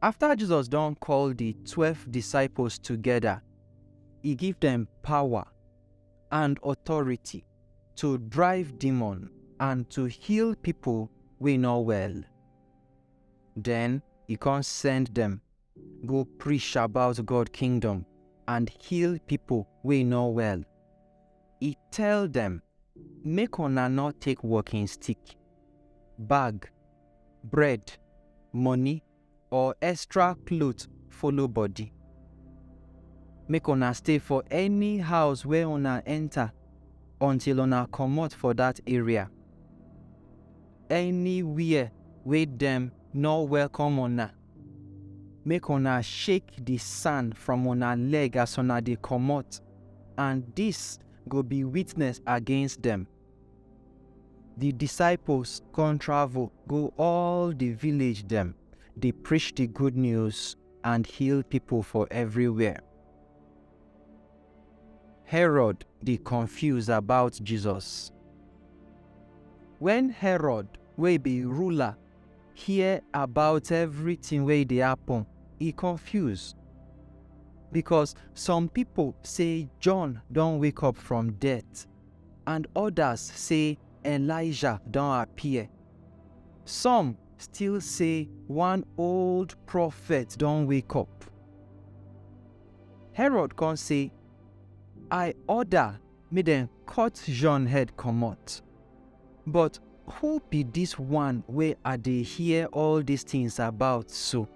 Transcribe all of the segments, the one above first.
After Jesus don call the twelve disciples together, he give them power and authority to drive demon and to heal people wey no well. Then he come send them go preach about God kingdom and heal people wey no well. He tell them, make una no take walking stick, bag bread, money or extra cloth follow body. Make una stay for any house wey una enter until una comot for that area. Anywhere wey dem no welcome una, make una shake the sand from una leg as una dey comot and this go be witness against dem. Di disciples kon travel go all di village dem, dey preach di good news and heal pipol for evriwhere. Herod dey confuse about Jesus. Wen Herod wey bi ruler hear about evritin wey dey happen, e confuse. Bikos som pipol sey John don wake up from death, and odas say Elijah don appear. Some still say one old prophet don wake up. Herod come say, I order make dem cut John head comot. But who be dis one wey I dey hear all dis tins about so?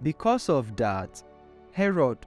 Because of dat, Herod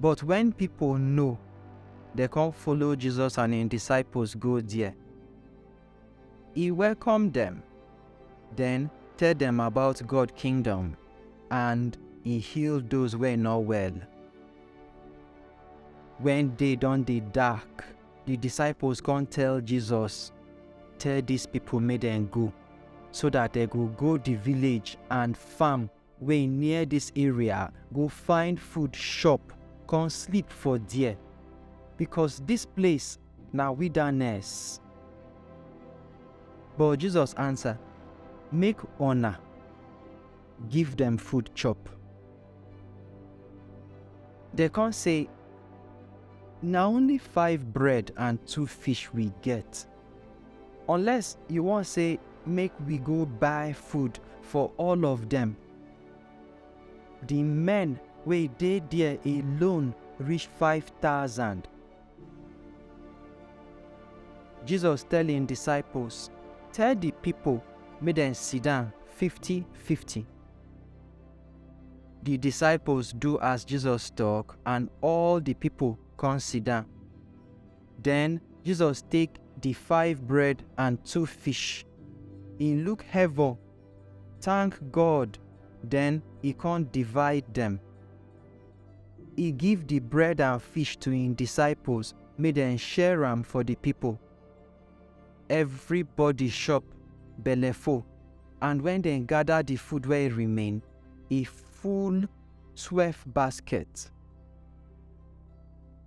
But wen pipo know, dem come follow Jesus and im disciples go there. E welcome dem, den tell dem about God Kingdom and e heal those wey no well. Wen day don dey dark, di disciples come tell Jesus, Tell dis pipo make dem go, so dat dem go go di village and farm wey near dis area go find food chop con sleep for there, becos dis place na wilderness. But Jesus ansa, Make una give dem food chop. Dem con sey, Na only five bread and two fish we get. Unless you wan say make we go buy food for all of dem. Di men wey dey there alone reach five thousand. Jesus tell im disciples, Tell di pipo make dem sidon fifty-fifty. Di disciples do as Jesus tok and all di pipo come sidon. Den Jesus take di five bread and two fish, e look heaven, tank God, den e kon divide dem. E give di bread and fish to im disciples make dem share am for di pipol. Evribody shop belleful and wen dem gada di food wey remain, e full twelve basket.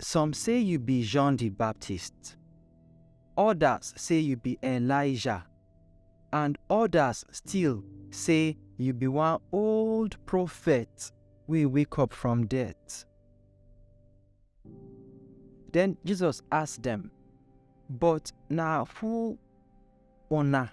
Some say you be John the Baptist, others say you be Elijah, and others still say you be one old prophet wey wake up from death. Then Jesus ask dem, But na who una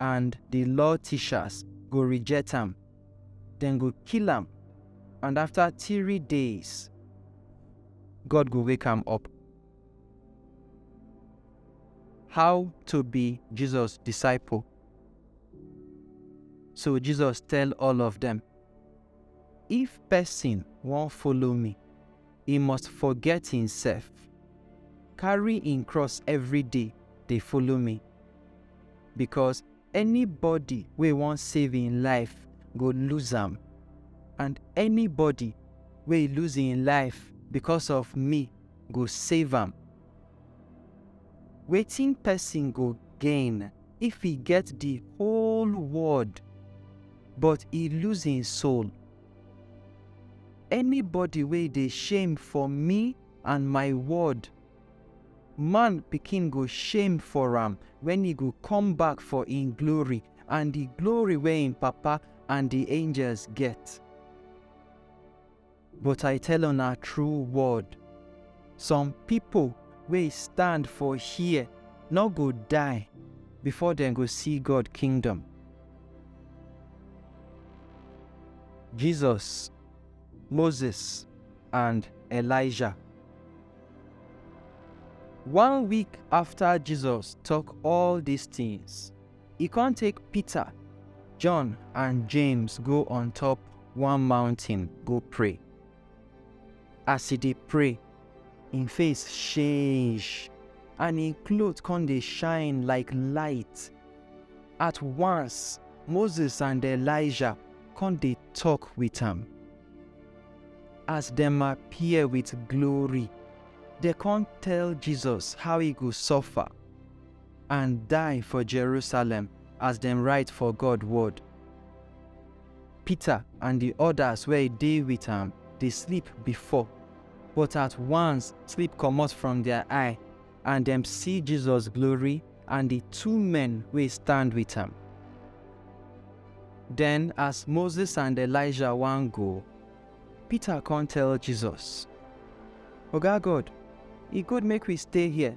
and di law tishas go rijet am, dem go kill am and afta tiri days, God go wake am up. How to bi Jisos disaiple? So Jisos tel all of dem, If pesin won folo mi. e must forget himself. Carry him cross every day dey follow me. Because anybody wey wan save him life go lose am and anybody wey lose him life because of me go save am. Wetin person go gain if e get the whole world but e lose him soul? Anybody wey dey shame for me and my word, Man Pikin go shame for am wen e go come back for im glory and di glory wey im Papa and di angels get. But I tell una true word, Some pipo wey stand for here nor go die before dem go see God Kingdom. Jesus, Moses and Elijah. One week after Jesus talk all these things, e come take Peter, John and James go on top one mountain go pray. As e dey pray, im face change and im cloth come dey shine like light. At once, Moses and Elijah come dey talk with am. As dem appear with glory, dem come tell Jesus how e go suffer and die for Jerusalem as dem write for God word. Peter and di odas wey dey wit am dey sleep before, but at once sleep comot from dia eye, and dem see Jesus glory and di two men wey stand wit am. Den as Moses and Elijah wan go, Peter con tell Jesus, Oga God, e good make we stay here?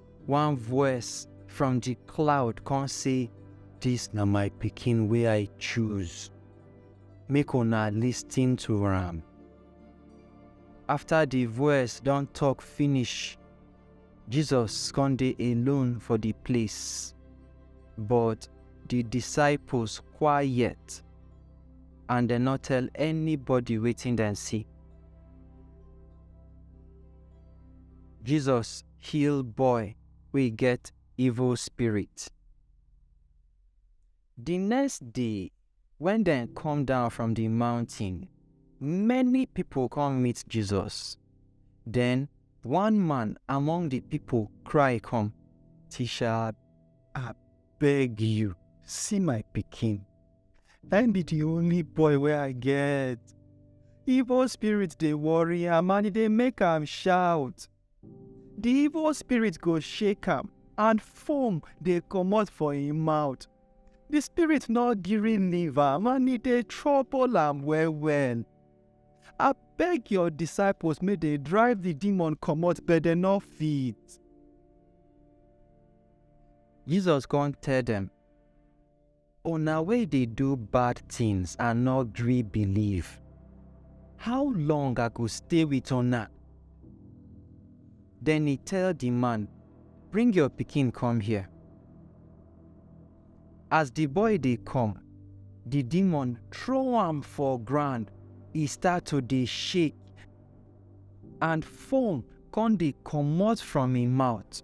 One voice from the cloud come say, This na my pikin wey I choose. Make una listen to am. After the voice don talk finish, Jesus come dey alone for the place. But the disciples quiet and dem no tell anybody wetin dem see. Jesus heal boy wey get evil spirit. Di next day, wen dem come down from di mountain, many pipo come meet Jesus. Den one man among di pipo cry come, Tisha, I beg you, see my pikin. Na im be di only boy wey I get. Evil spirit dey worry am and e dey make am shout. The evil spirit go shake am and foam dey comot for im mouth. The spirit no gree leave am and e dey trouble am well well. Abeg your disciples make dey drive the demon comot but dem no fit. Jesus come tell dem, Una wey dey do bad tins and no gree believe, how long I go stay wit una? Den e tell di man, Bring your pikin come here. As di boy dey come, di demon throw am for ground, e start to dey shake, and foam come dey comot from im mouth.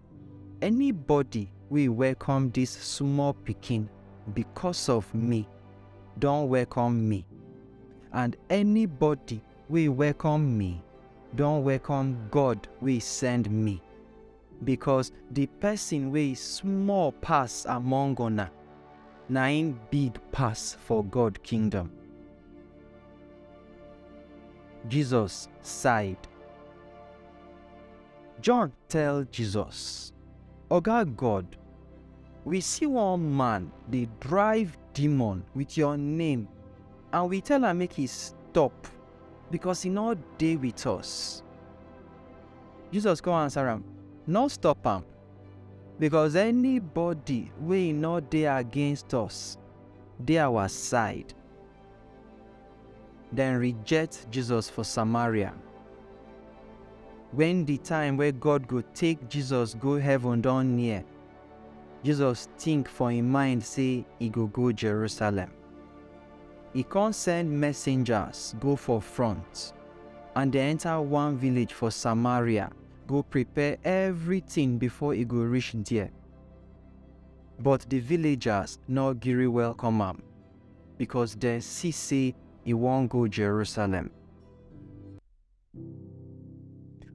Anybody wey welcome dis small pikin because of me don welcome me, and anybody wey welcome me don welcome God wey send me. Because the person wey small pass among una, na im big pass for God kingdom. Jesus sighed. John tell Jesus, Oga God, we see one man dey drive demon with your name and we tell am make he stop because he no dey with us. Jesus come answer am, No stop am because anybody wey no dey against us dey our side. Dem reject Jesus for Samaria. When the time wey God go take Jesus go heaven don near, Jesus think for im mind say e go go Jerusalem. E come send messengers go for front and dem enter one village for Samaria go prepare everything before e go reach there. But the villagers no gree welcome am. because dem see say e wan go Jerusalem.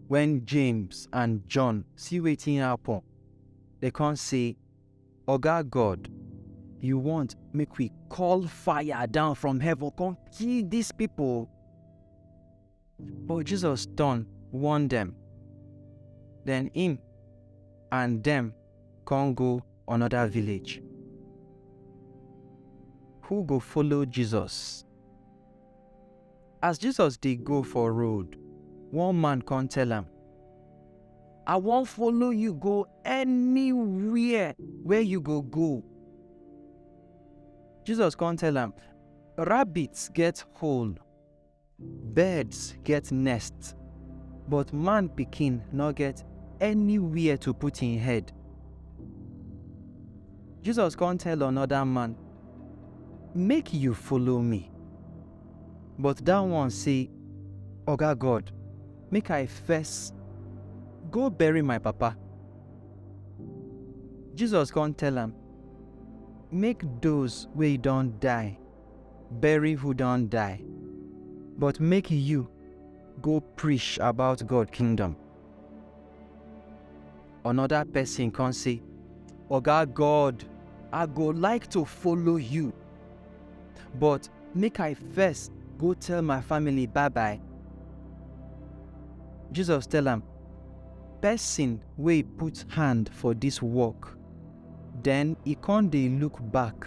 When James and John see wetin happen, dem come say, Oga God, you want make we call fire down from heaven come kill dis people? But Jesus turn, warn dem. Then him and dem come go another village. Who go follow Jesus? As Jesus dey go for road, one man come tell am, I wan follow you go anywhere where you go go. Jesus come tell am, Rabbits get hole, Birds get nests, but man pikin no get anywhere to put him head. Jesus come tell another man, Make you follow me. But that one say, Oga God, make I first go bury my papa. Jesus come tell am, Make those wey don die bury who don die, but make you go preach about God kingdom. Another person come say, Oga God, I go like to follow you, but make I first go tell my family bye bye. Jesus tell am, Person wey put hand for this work, then e come dey look back